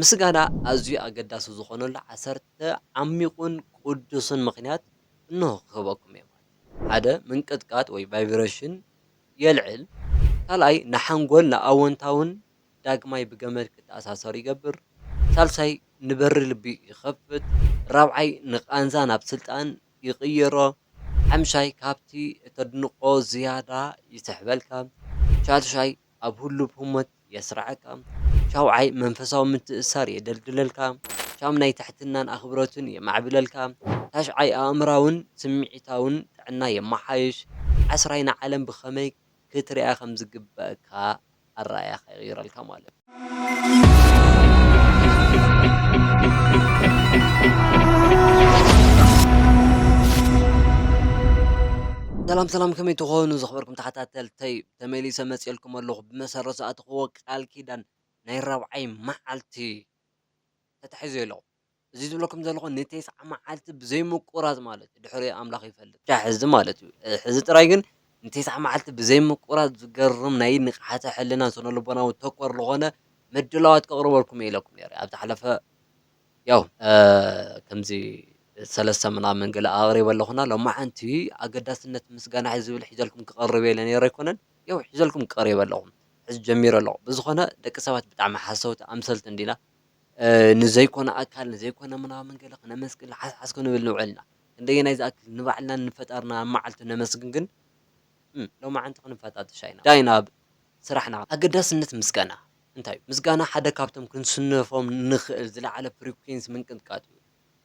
ምስጋና ኣዝዩ ኣገዳሲ ዝኾነሉ ዓሰርተ ዓሚቝን ቅዱስን ምኽንያት እንሆ ክህበኩም እየ ማለት ሓደ ምንቅጥቃጥ ወይ ቫይብረሽን የልዕል ካልኣይ ንሓንጎል ንኣወንታውን ዳግማይ ብገመድ ክተኣሳሰር ይገብር ሳልሳይ ንበሪ ልቢ ይኸፍት ራብዓይ ንቃንዛ ናብ ስልጣን ይቕይሮ ሓምሻይ ካብቲ እተድንቖ ዝያዳ ይስሕበልካ ሻድሻይ ኣብ ህሉብ ህሞት የስርዓካ፣ ሻውዓይ መንፈሳዊ ምትእስሳር የደልድለልካ፣ ሻምናይ ትሕትናን ኣኽብሮትን የማዕብለልካ፣ ታሽዓይ ኣእምሮኣውን ስምዒታውን ጥዕና የመሓይሽ፣ ዓስራይ ንዓለም ብኸመይ ክትሪኣ ከም ዝግበኣካ ኣረኣእያኻ ይቕይረልካ ማለት እዩ። ሰላም ሰላም ከመይ ትኾኑ ዝኽበርኩም ተኸታተልተይ። ተመሊሰ መጺኤልኩም ኣለኹ ብመሰረት ዝኣተኽዎ ቃል ኪዳን ናይ ራብዓይ መዓልቲ ተታሒዙ ኢሎ እዚ ዝብለኩም ዘለኹ ንቴስዓ መዓልቲ ብዘይ ምቁራጽ ማለት እዩ ድሕሪ ኣምላኽ ይፈልጥ ክሻዕ ሕዚ ማለት እዩ ሕዚ ጥራይ ግን ንቴስዓ መዓልቲ ብዘይ ምቁራጽ ዝገርም ናይ ንቕሓተ ሕልና ስነልቦናዊ ተኮር ዝኾነ ምድላዋት ከቕርበልኩም እየ ኢለኩም ነይረ ኣብ ዝሓለፈ ያው ከምዚ ሰለስተ ምናምን ገለ ኣቕሪበ ኣለኹና ሎማዓንቲ ኣገዳስነት ምስጋና ዝብል ሒዘልኩም ክቐርብ እየ ኢለ ነይረ ኣይኮነን ያው ሒዘልኩም ቀሪበ ኣለኹ ሕዚ ጀሚረ ኣለኹ ብዝኾነ ደቂ ሰባት ብጣዕሚ ሓሰውቲ ኣምሰልቲ እንዲና ንዘይኮነ ኣካል ንዘይኮነ ምናምን ገለ ክነመስግን ሓስሓስ ክንብል ንውዕል ኢና ክንደየናይ ዝኣክል ንባዕልና ንፈጣርና ኣብ መዓልቱ ነመስግን ግን ሎማዓንቲ ክንፈታተሽ ኣይና ዳይ ናብ ስራሕና ኣገዳስነት ምስጋና እንታይ እዩ? ምስጋና ሓደ ካብቶም ክንስንፎም እንኽእል ዝለዓለ ፍሪኲንሲ ምንቅጥቃጥ እዩ።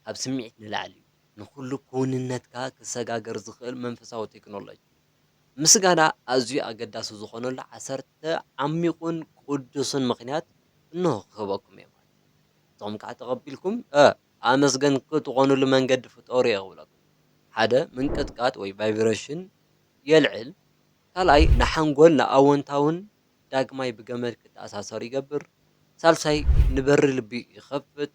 ካብ ስምዒት ንላዕሊ እዩ፣ ንኹሉ ክውንነትካ ክሰጋገር ዝኽእል መንፈሳዊ ቴክኖሎጂ። ምስጋና ኣዝዩ ኣገዳሲ ዝኾነሉ ዓሰርተ ዓሚቝን ቅዱስን ምኽንያት እንሆ ክህበኩም እየ ማለት እዩ። ንስኹም ከኣ ተቐቢልኩም ኣመስገንቲ ትኾኑሉ መንገዲ ፍጠሩ እየ ክብለኩም። ሓደ ምንቅጥቃጥ ወይ ቫይብረሽን የልዕል፣ ካልኣይ ንሓንጎል ንኣወንታውን ዳግማይ ብገመድ ክተኣሳሰሩ ይገብር፣ ሳልሳይ ንበሪ ልቢ ይኸፍት፣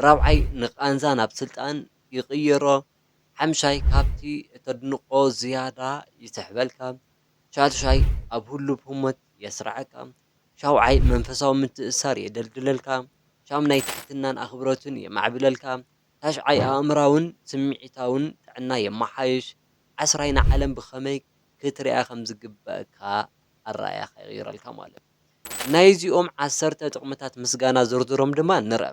ራብዓይ ንቃንዛ ናብ ስልጣን ይቕይሮ፣ ሓምሻይ ካብቲ እተድንቖ ዝያዳ ይስሕበልካ፣ ሻድሻይ ኣብ ህሉብ ህሞት የስርዓካ፣ ሻውዓይ መንፈሳዊ ምትእስሳር የደልድለልካ፣ ሻምናይ ትሕትናን ኣኽብሮትን የማዕብለልካ፣ ታሽዓይ ኣእምሮኣውን ስምዒታውን ጥዕና የመሓይሽ፣ ዓስራይ ንዓለም ብኸመይ ክትሪኣ ከም ዝግበኣካ ኣረኣእያኻ ይቕይረልካ ማለት እዩ። ናይዚኦም ዓሰርተ ጥቕምታት ምስጋና ዝርዝሮም ድማ ንርኣ።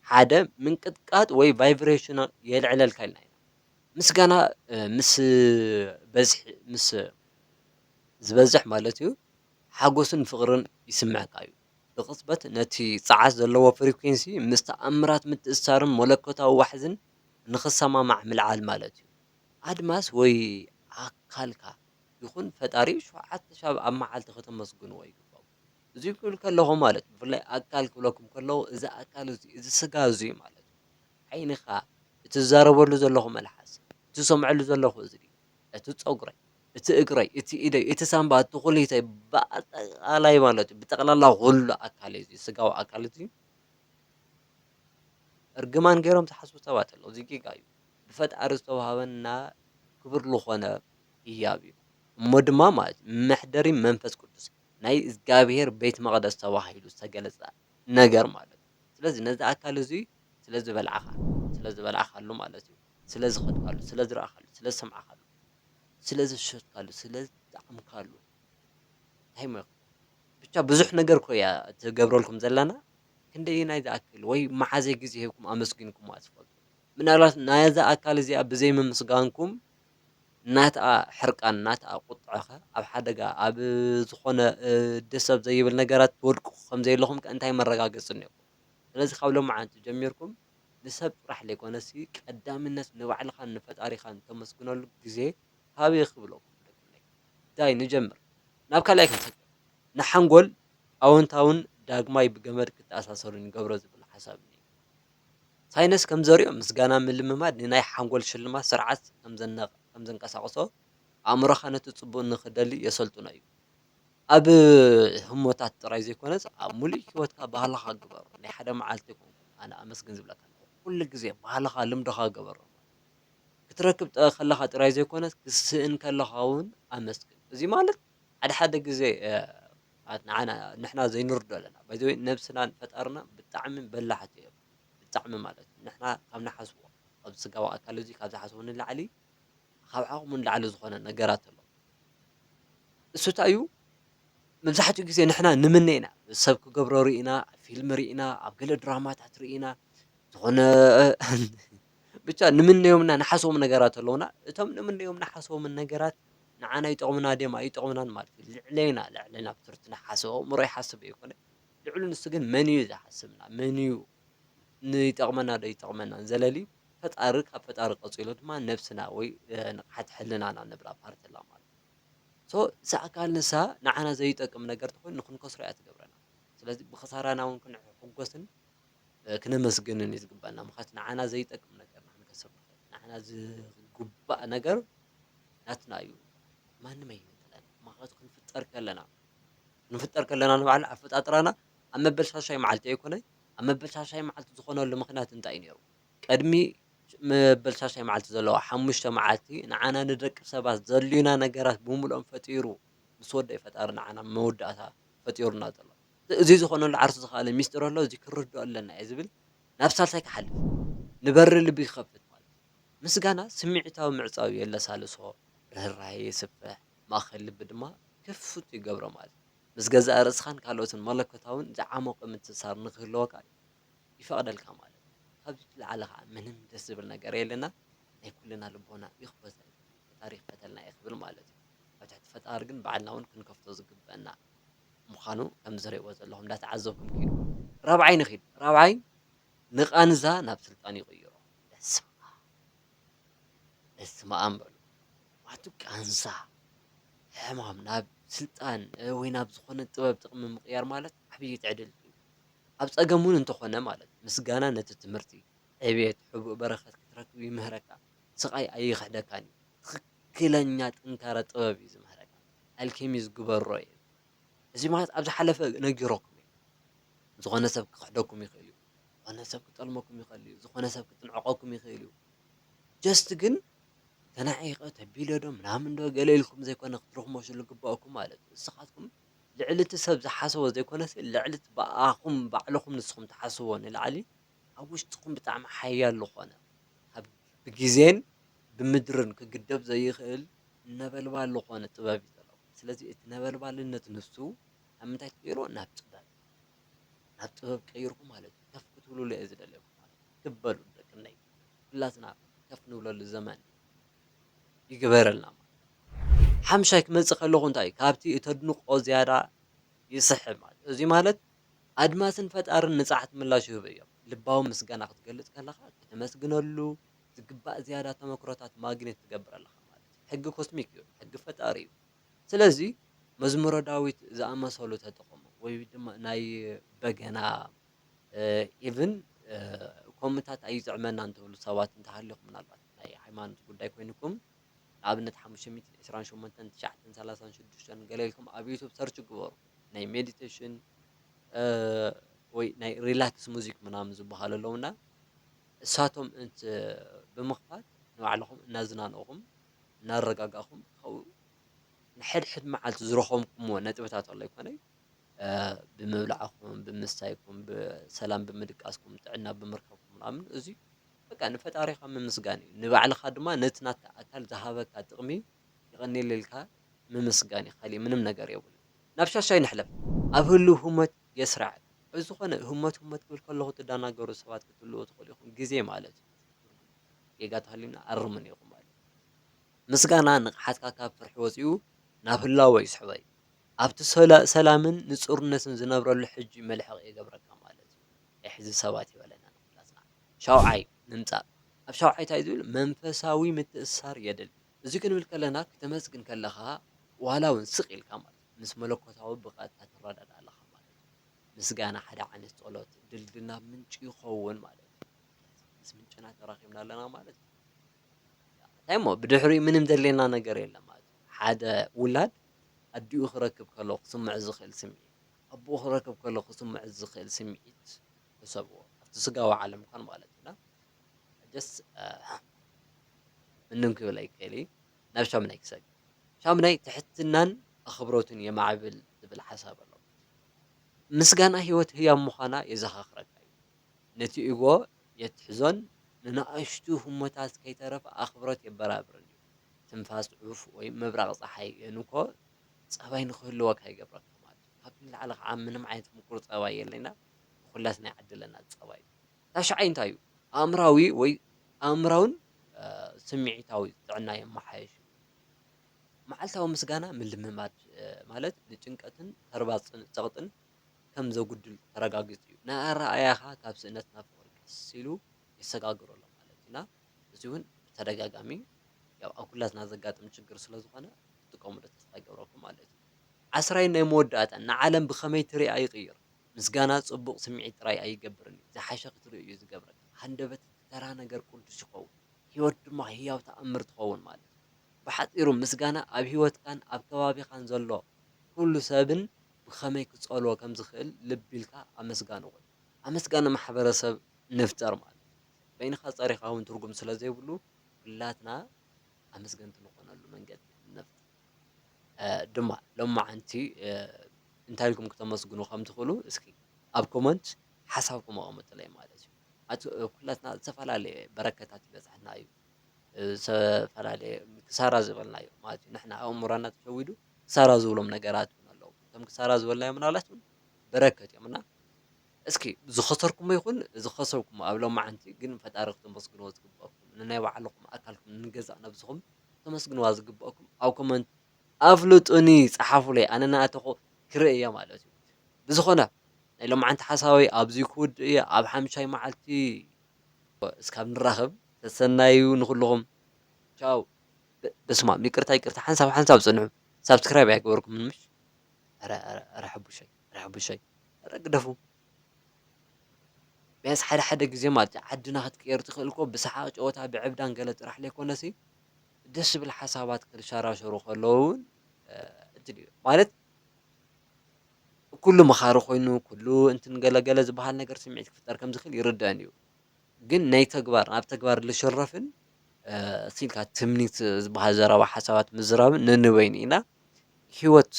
ሓደ፣ ምንቅጥቃጥ ወይ ቫይብሬሽን የልዕለልካ ኢልና ኢና። ምስጋና ምስ በዝሒ ምስ ዝበዝሕ ማለት እዩ ሓጎስን ፍቕርን ይስምዓካ እዩ። ብቕጽበት ነቲ ጸዓት ዘለዎ ፍሪኲንሲ ምስ ተኣምራት ምትእስሳርን መለኮታዊ ዋሕዝን ንኽሰማማዕ ምልዓል ማለት እዩ። ኣድማስ ወይ ኣካልካ። ይኹን ፈጣሪኡ ሸውዓተ ሻብ ኣብ መዓልቲ ከተመስግንዎ ይግባኩም እዙይ ክብል ከለኹ ማለት ብፍላይ ኣካል ክብለኩም ከለኹ እዚ ኣካል እዙይ እዚ ስጋ እዙይ ማለት እዩ ዓይንኻ እቲ ዝዛረበሉ ዘለኹ መልሓስ እቲ ዝሰምዐሉ ዘለኹ እዝኒ እቲ ፀጉረይ እቲ እግረይ እቲ ኢደይ እቲ ሳንባ እቲ ኩሊተይ ብኣጠቃላይ ማለት እዩ ብጠቅላላ ኩሉ ኣካል እዩ ስጋዊ ኣካል እዚ እርግማን ገይሮም ዝሓስቡ ሰባት ኣለዉ እዚ ጌጋ እዩ ብፈጣሪ ዝተዋህበና ክቡር ልኾነ ህያብ እዩ እሞ ድማ ማለት መሕደሪ መንፈስ ቅዱስ ናይ እዝጋብሄር ቤት መቅደስ ተባሂሉ ዝተገለጸ ነገር ማለት እዩ ስለዚ ነዚ ኣካል እዙይ ስለ ዝበላዕኻ ስለ ዝበላዕካሉ ማለት እዩ ስለ ዝኸድካሉ ስለ ዝረኣኻሉ ስለ ዝሰማዕካሉ ስለ ዝሰትካሉ ስለ ዝጠዓምካሉ እንታይ እሞ ይኸውን ብቻ ብዙሕ ነገር እኮ እያ ትገብረልኩም ዘለና ክንደየናይ ዝኣክል ወይ መዓዘይ ግዜ ሂብኩም ኣመስጊንኩማ ትፈልጡ። ምናልባት ናይዛ ኣካል እዚኣ ብዘይምምስጋንኩም ናትኣ ሕርቃን ናትኣ ቁጥዐ ከ ኣብ ሓደጋ ኣብ ዝኾነ ደስ ኣብ ዘይብል ነገራት ትወድቁ ከም ዘይለኹም ከ እንታይ መረጋገጺ እኒኦኩም ስለዚ ካብ ሎምዓንቲ ጀሚርኩም ንሰብ ጥራሕ ለይኮነሲ ቀዳምነት ንባዕልኻን ንፈጣሪኻን ተመስግነሉ ግዜ ሃብ እየ ክብለኩም ደቅነይ ዳይ ንጀምር ናብ ካልኣይ ክንሰግር ንሓንጎል ኣወንታውን ዳግማይ ብገመድ ክተኣሳሰሩን ይገብሮ ዝብል ሓሳብ እኒኤኒ። ሳይንስ ከም ዘሪኦ፣ ምስጋና ምልምማድ ንናይ ሓንጎል ሽልማት ስርዓት ከም ዘንቀሳቕሶ፣ ኣእምሮኻ ነቲ ጽቡቕ ንኽደሊ የሰልጥኖ እዩ። ኣብ ህሞታት ጥራይ ዘይኮነስ ኣብ ምሉእ ህይወትካ ባህልኻ ግበሮ። ናይ ሓደ መዓልቲ ኣይኮንኩን ኣነ ኣመስግን ዝብለካ ዘለኹ፣ ኩሉ ግዜ ባህልኻ ልምድኻ ግበሮ። ክትረክብ ከለኻ ጥራይ ዘይኮነስ ክትስእን ከለኻ እውን ኣመስግን። እዚ ማለት ሓደ ሓደ ግዜ ኣት ንዓና ንሕና ዘይንርዶ ኣለና ባይ ዘ ወይ ነብስናን ፈጣርና ብጣዕሚ በላሕቲ እዮም ብጣዕሚ ማለት እዩ ንሕና ካብ ንሓስቦ ኣብዚ ስጋዊ ኣካል እዚ ካብ ዝሓስቦ ንላዕሊ ካብ ዓቅሙ ንላዕሊ ዝኮነ ነገራት ኣሎ እሱ ታይ እዩ መብዛሕትኡ ግዜ ንሕና ንምነ ኢና ሰብ ክገብሮ ርኢና ፊልም ርኢና ኣብ ገለ ድራማታት ርኢና ዝኾነ ብቻ ንምነዮምና ንሓስቦም ነገራት ኣለውና እቶም ንምነዮም ንሓስቦምን ነገራት ንዓና ይጠቕሙና ድዮም ኣይጠቕሙናን ማለት እዩ። ልዕሌና ልዕሌና ብትርቲ ንሓስብ። ኣእምሮ ይሓስብ ዘይኮነ ልዕሉ ንሱ ግን መን እዩ ዝሓስብና መን እዩ ንይጠቕመና ዶ ኣይጠቕመናን ዘለሊ ፈጣሪ ካብ ፈጣሪ ቀጺሉ ድማ ነብስና ወይ ንቕሓት ሕልናና ንብላ ፓርቲ ኣላ ማለት እዩ። ሶ እሳ ኣካል ንሳ ንዓና ዘይጠቅም ነገር ተኾይኑ ንኽንከስሮ እያ ትገብረና። ስለዚ ብኽሳራና እውን ክንሕጎስን ክነመስግንን እዩ ዝግባና ምክንያቱ ንዓና ዘይጠቅም ነገር ንሕና ከሰብ ንክእል ንዓና ዝግባእ ነገር ናትና እዩ ማንም ኣይነጥለን ምክንያቱ ክንፍጠር ከለና ክንፍጠር ከለና ንባዕልና ኣፈጣጥራና ኣብ መበል ሻሻይ መዓልቲ ኣይኮነ ኣብ መበል ሻሻይ መዓልቲ ዝኾነሉ ምክንያት እንታይ ነይሩ ቅድሚ መበል ሻሻይ መዓልቲ ዘለዋ ሓሙሽተ መዓልቲ ንዓና ንደቂ ሰባት ዘልዩና ነገራት ብምሉኦም ፈጢሩ ምስ ወደይ ፈጣሪ ንዓና መወዳእታ ፈጢሩና ዘሎ እዚ ዝኾነሉ ዓርሱ ዝኸኣለ ሚስጢር ኣሎ፣ እዚ ክንርድኦ ኣለና እየ ዝብል ናብ ሳልሳይ ክሓልፍ፣ ንበሪ ልቢ ክኸፍት ማለት እዩ። ምስጋና ስምዒታዊ ምዕጻው የለሳልሶ፣ ርህራሄ የስፍሕ፣ ማእከል ልቢ ድማ ክፉት ይገብሮ ማለት እዩ። ምስ ገዛእ ርእስኻን ካልኦትን መለኮታውን ዝዓሞቐ ምትእስሳር ንኽህልወካ ይፈቕደልካ ማለት እዩ። ካብዚ ዝለዓለ ከኣ ምንም ደስ ዝብል ነገር የለና፣ ናይ ኩልና ልቦና ይኽፈተልና፣ ፈጣሪ ይኽፈተልና እየ ክብል ማለት እዩ። ኣብ ትሕቲ ፈጣሪ ግን ባዕልና እውን ክንከፍቶ ዝግበእና። ምዃኑ ከምዚ ትሪእዎ ዘለኹም እንዳተዓዘብኩም ኪዱ ራብዓይ ንኺድ ራብዓይ ንቃንዛ ናብ ስልጣን ይቕይሮ በስመኣም በስመኣም በሉ ማቱ ቃንዛ ሕማም ናብ ስልጣን ወይ ናብ ዝኾነ ጥበብ ጥቕሚ ምቕያር ማለት ዓብዪ ትዕድልቲ እዩ ኣብ ጸገም እውን እንተኾነ ማለት ምስጋና ነቲ ትምህርቲ ዕብየት ሕቡእ በረኸት ክትረክብ ይምህረካ ስቓይ ኣይኽሕደካን እዩ ትኽክለኛ ጥንካረ ጥበብ እዩ ዝምህረካ ኣልኬሚዝ ግበሮ ይብል እዚ ማለት ኣብ ዝሓለፈ ነጊሮኩም እዩ ዝኾነ ሰብ ክኽሕደኩም ይኽእል እዩ ዝኾነ ሰብ ክጠልመኩም ይኽእል እዩ ዝኾነ ሰብ ክጥንዕቀኩም ይኽእል እዩ ጀስት ግን ተናዒቀ ተቢለ ዶ ምናምን ዶ ገለ ኢልኩም ዘይኮነ ክትርኽመሹ ዝግባእኩም ማለት እዩ ንስኻትኩም ልዕሊ እቲ ሰብ ዝሓሰቦ ዘይኮነስ ልዕሊ እቲ ብኣኹም ባዕልኹም ንስኹም ትሓስብዎ ንላዕሊ ኣብ ውሽጥኹም ብጣዕሚ ሓያል ዝኾነ ኣብ ብግዜን ብምድርን ክግደብ ዘይኽእል ነበልባል ልኾነ ጥበብ እዩ ዘለዋ ስለዚ እቲ ነበልባልነት ንሱ ኣብ ምንታይ ትቅይሮ ናብ ጥበብ ናብ ጥበብ ቀይርኩ ማለት እዩ ከፍ ክትብሉሉ እየ ዝደልየኩም ማለት እዩ ክብ በሉ ደቅነይ ኩላትና ከፍ ንብለሉ ዘመን ይግበረልና ማለት ሓምሻይ ክመጽእ ከለኹ እንታይ እዩ ካብቲ እተድንቆ ዝያዳ ይስሕብ ማለት እዚ ማለት ኣድማስን ፈጣርን ንጻሕት ምላሽ ይህቡ እዮም ልባዊ ምስጋና ክትገልጽ ከለኻ ከተመስግነሉ ዝግባእ ዝያዳ ተመክሮታት ማግኔት ትገብር ኣለኻ ማለት እዩ። ሕጊ ኮስሚክ እዩ፣ ሕጊ ፈጣሪ እዩ። ስለዚ መዝሙረ ዳዊት ዝኣመሰሉ ተጠቐሙ ወይ ድማ ናይ በገና ኢቭን ኮምታት ኣይጥዕመናን ትብሉ ሰባት እንተሃሊኹም ምናልባት ናይ ሃይማኖት ጉዳይ ኮይንኩም ንኣብነት ሓሙሽተ ሚእትን ዕስራን ሸሞንተን ትሽዓተን ሰላሳን ሽዱሽተን ገለ ኢልኩም ኣብ ዩቱብ ሰርች ግበሩ ናይ ሜዲቴሽን ወይ ናይ ሪላክስ ሙዚክ ምናምን ዝበሃሉ ኣለውና እሳቶም እንት ብምኽፋት ንባዕልኹም እናዝናንእኹም እናረጋጋእኹም ካብኡ ንሕድሕድ መዓልቲ ዝረኸምኩምዎ ነጥብታት ኣሎ ኣይኮነይ ብምብላዕኩም ብምስታይኩም ብሰላም ብምድቃስኩም ጥዕና ብምርካብኩም ምናምን እዙይ በቃ ንፈጣሪኻ ምምስጋን እዩ ንባዕልኻ ድማ ነቲ ናትካ ኣካል ዝሃበካ ጥቕሚ የቐኔለልካ ምምስጋን እዩ ካሊእ ምንም ነገር የብሉን ናብ ሻሻይ ንሕለፍ ኣብ ህልው ህሞት የስራዕ ብ ዝኮነ ህሞት ህሞት ክብል ከለኩ ትዳናገሩ ሰባት ክትህልዉ ትክእሉ ኢኩም ግዜ ማለት እዩ ትርጉም ጌጋ ተሃልዩና ኣርሙኒ ኢኩም ማለት እዩ ምስጋና ንቅሓትካ ካብ ፍርሒ ወጺኡ ናብ ህላወ ይስሕቦዩ ኣብቲ ሰላምን ንጹርነትን ዝነብረሉ ሕጂ መልሕቅ ይገብረካ ማለት እዩ ኤሕዚ ሰባት ይበለና ንኩላትና ሻውዓይ ንምጻእ ኣብ ሻውዓይ ታይ ዝብል መንፈሳዊ ምትእስሳር የድሊ እዚ ክንብል ከለና ክተመስግን ከለካ ዋላ ውን ስቅ ኢልካ ማለት እዩ። ምስ መለኮታዊ ብቐጥታ ትረዳዳእ ኣለኻ ማለት እዩ። ምስጋና ሓደ ዓይነት ጸሎት ድልድል ናብ ምንጩ ይኸውን ማለት እዩ። ስለዚ ምስ ምንጭና ተራኺብና ኣለና ማለት እዩ። እንታይ እሞ ብድሕሪኡ ምንም ዘድልየና ነገር የለን ማለት እዩ። ሓደ ውላድ ኣዲኡ ክረክብ ከሎ ክስምዖ ዝኽእል ስምዒት፣ ኣቦኡ ክረክብ ከሎ ክስምዖ ዝኽእል ስምዒት ሕሰብዎ። ኣብቲ ስጋዊ ዓለም እንኳን ማለት እዩ። እና just ምንም ክብል ኣይክእል እዩ። ናብ ሻሙናይ ክሳብ እዩ። ሻሙናይ ትሕትናን ኣኽብሮትን የማዕብል ዝብል ሓሳብ ኣሎ። ምስጋና ህይወት ህያው ምዃና የዘኻኽረካ እዩ። ነቲ ኢጎ የትሕዞን ንንኣሽቱ ህሞታት ከይተረፈ ኣኽብሮት የበራብርን እዩ። ትንፋስ ዑፍ ወይ ምብራቕ ጸሓይ የንኮ ጸባይ ንኽህልወካ ይገብረካ ማለት እዩ። ካብዚ ንላዕሊ ከኣ ምንም ዓይነት ምቁር ጸባይ የለይና ንኹላትና ይዓድለና ጸባይ። ታሽዓይ እንታይ እዩ? ኣእምሮኣዊ ወይ ኣእምሮኣውን ስምዒታዊ ጥዕና የመሓይሽ። መዓልታዊ ምስጋና ምልምማድ ማለት ንጭንቀትን ተርባጽን ጸቕጥን ከም ዘጉድል ተረጋጊጹ እዩ። ንኣረኣእያኻ ካብ ስእነት ናብ ፍቕሪ ቀስ ኢሉ የሰጋግሮ ኣሎ ማለት እዩ። እና እዚ እውን ብተደጋጋሚ ያው ኣብ ኩላትና ዘጋጥም ችግር ስለ ዝኾነ ክትጥቀምሉ ተስፋ ይገብረኩም ማለት እዩ። ዓስራይን ናይ መወዳእታን ንዓለም ብኸመይ ትርኣ ይቕይር። ምስጋና ጽቡቕ ስምዒት ጥራይ ኣይገብርን እዩ፣ ዝሓሸ ክትርኢ እዩ ዝገብረካ። ሃንደበት እቲ ተራ ነገር ቅዱስ ይኸውን፣ ህይወት ድማ ህያው ተኣምር ትኸውን ማለት እዩ። ብሓጺሩ ምስጋና ኣብ ህይወትካን ኣብ ከባቢኻን ዘሎ ኵሉ ሰብን ብኸመይ ክጸልዎ ከም ዝኽእል ልቢ ኢልካ ኣመስጋኒ ኹን። ኣመስጋኒ ማሕበረሰብ ንፍጠር ማለት እዩ፣ በይንኻ ጸሪኻ እውን ትርጕም ስለ ዘይብሉ ኵላትና ኣመስገንቲ ንዀነሉ መንገዲ ነፍጥር። ድማ ሎማዓንቲ እንታይ ኢልኩም ክተመስግኑ ከም ትኽእሉ እስኪ ኣብ ኮመንት ሓሳብኩም ኣቐምጡለይ ማለት እዩ። ኣቲ ኩላትና ዝተፈላለየ በረከታት ይበጽሐና እዩ ዝተፈላለየ ክሳራ ዝበልናዮ ማለት እዩ ንሕና ኣእምሮና ተሸዊዱ ክሳራ ዝብሎም ነገራት እውን ኣለዉ እቶም ክሳራ ዝበልናዮም ምናልባት እውን በረከት እዮም እና እስኪ ዝኸሰርኩሞ ይኹን ዝኸሰብኩሞ ኣብ ሎማዓንቲ ግን ንፈጣሪ ክተመስግንዎ ዝግበኣኩም ንናይ ባዕልኹም ኣካልኩም ንገዛእ ነብስኹም ክተመስግንዋ ዝግበኣኩም ኣብ ኮመንት ኣፍልጡኒ ጸሓፉለይ ኣነ ናኣተኹ ክርኢ እየ ማለት እዩ ብዝኾነ ናይ ሎማዓንቲ ሓሳበይ ኣብዚ ክውድእ እየ ኣብ ሓምሻይ ማዓልቲ እስካብ ንራኸብ ሰሰናዩ ንኹልኹም ቻው። በስማም ይቅርታ ይቅርታ ሓንሳብ ሓንሳብ ጽንሑ ሳብስክራይብ ኣይገበርኩምን ምሽ ኣረ ኣረ ኣረ ሐቡሸይ። ርሐቡሸይ እረ ግደፉ ቢያንስ ሐደ ሐደ ግዜ ማለት እዩ ዓድና ክትቅየር ትክእል እኮ ብሳሓቅ ጨወታ ብዕብዳን ገለ ጥራሕ ለይኮነሲ ደስ ዝብል ሓሳባት ክሻራሸሩ ከለዉ እውን እድል እዩ ማለት ኩሉ መኻሪ ኮይኑ ኩሉ እንትን ገለ ገለ ዝበሃል ነገር ስምዒት ክፍጠር ከም ዝክእል ይርደአን እዩ ግን ናይ ተግባር ናብ ተግባር ልሽረፍን ሲልካ ትምኒት ዝበሃል ዘረባ ሓሳባት ምዝራብን ነንበይኑ ኢና ሂወት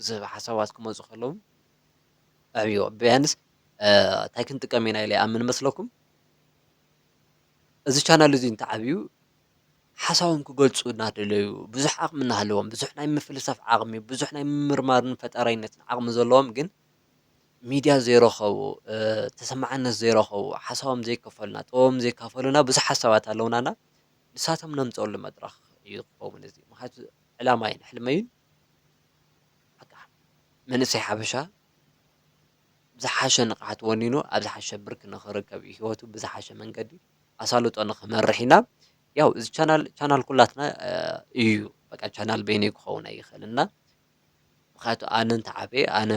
ዝህብ ሓሳባት ክመጹ ከለዉ ኣዕብዮ ቢያንስ እንታይ ክንጥቀም ኢና ኢለ ይኣምን መስለኩም እዚ ቻናል እዚ እንተዓብዩ ሓሳቦም ክገልጹ እናደለዩ ብዙሕ ዓቕሚ እናሃለዎም ብዙሕ ናይ ምፍልሳፍ ዓቕሚ ብዙሕ ናይ ምምርማርን ፈጣራይነትን ዓቕሚ ዘለዎም ግን ሚድያ ዘይረኸቡ ተሰማዕነት ዘይረኸቡ ሓሳቦም ዘይከፈሉና ጥበቦም ዘይካፈሉና ብዙሕ ሓሳባት ኣለውናና ንሳቶም ነምፀሉ መድረኽ እዩ ክኸውን እዚ ምክንያቱ ዕላማይን ሕልመይን መንእሰይ ሓበሻ ብዝሓሸ ንቕሓት ወኒኑ ኣብ ዝሓሸ ብርኪ ንኽርከብ እዩ ህይወቱ ብዝሓሸ መንገዲ ኣሳልጦ ንኽመርሕ ኢና ያው እዚ ቻናል ቻናል ኩላትና እዩ በቃ ቻናል በይነይ ክኸውን ኣይኽእልን እና ምክንያቱ ኣነ እንተዓበየ ኣነ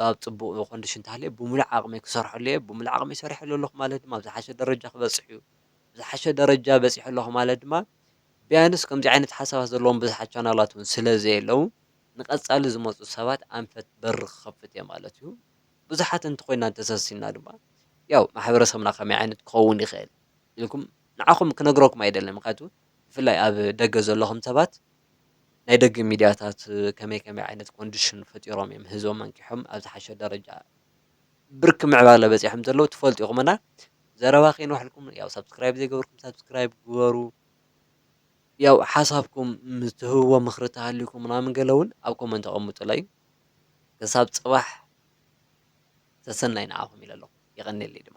ኣብ ፅቡቕ ኮንዲሽን እንተሃልየ ብምሉእ ዓቕመይ ክሰርሐሉ እየ ብምሉእ ዓቕመይ ሰሪሐሉ ኣለኹ ማለት ድማ ኣብ ዝሓሸ ደረጃ ክበፅሕ እዩ ዝሓሸ ደረጃ በፂሐ ኣለኹ ማለት ድማ ቢያንስ ከምዚ ዓይነት ሓሳባት ዘለዎም ብዝሓት ቻናላት ውን ስለ ዘየለው ንቀጻሊ ዝመጹ ሰባት ኣንፈት በሪ ክኸፍት እየ ማለት እዩ። ብዙሓት እንተኾይና እንተሰሲንና ድማ ያው ማሕበረሰብና ከመይ ዓይነት ክኸውን ይኽእል ኢልኩም ንዓኹም ክነግረኩም ኣይደልን ምክንያቱ ብፍላይ ኣብ ደገ ዘለኹም ሰባት ናይ ደገ ሚድያታት ከመይ ከመይ ዓይነት ኮንዲሽን ፈጢሮም እዮም ህዝቦም ኣንቂሖም ኣብ ዝሓሸ ደረጃ ብርኪ ምዕባለ በጺሖም ዘለዉ ትፈልጡ ኢኹም እና ዘረባ ከይንዋሓልኩም ያው ሳብስክራይብ ዘይገበርኩም ሳብስክራይብ ግበሩ ያው ሓሳብኩም ምስ ትህብዎ ምኽሪ ተሃልዩኩም ምናምን ገለ እውን ኣብ ኮመንት ኣቐምጡለይ ክሳብ ጽባሕ ሰሰናይ ንዓኹም ኢለ ኣለኹ የቐንየለይ ድማ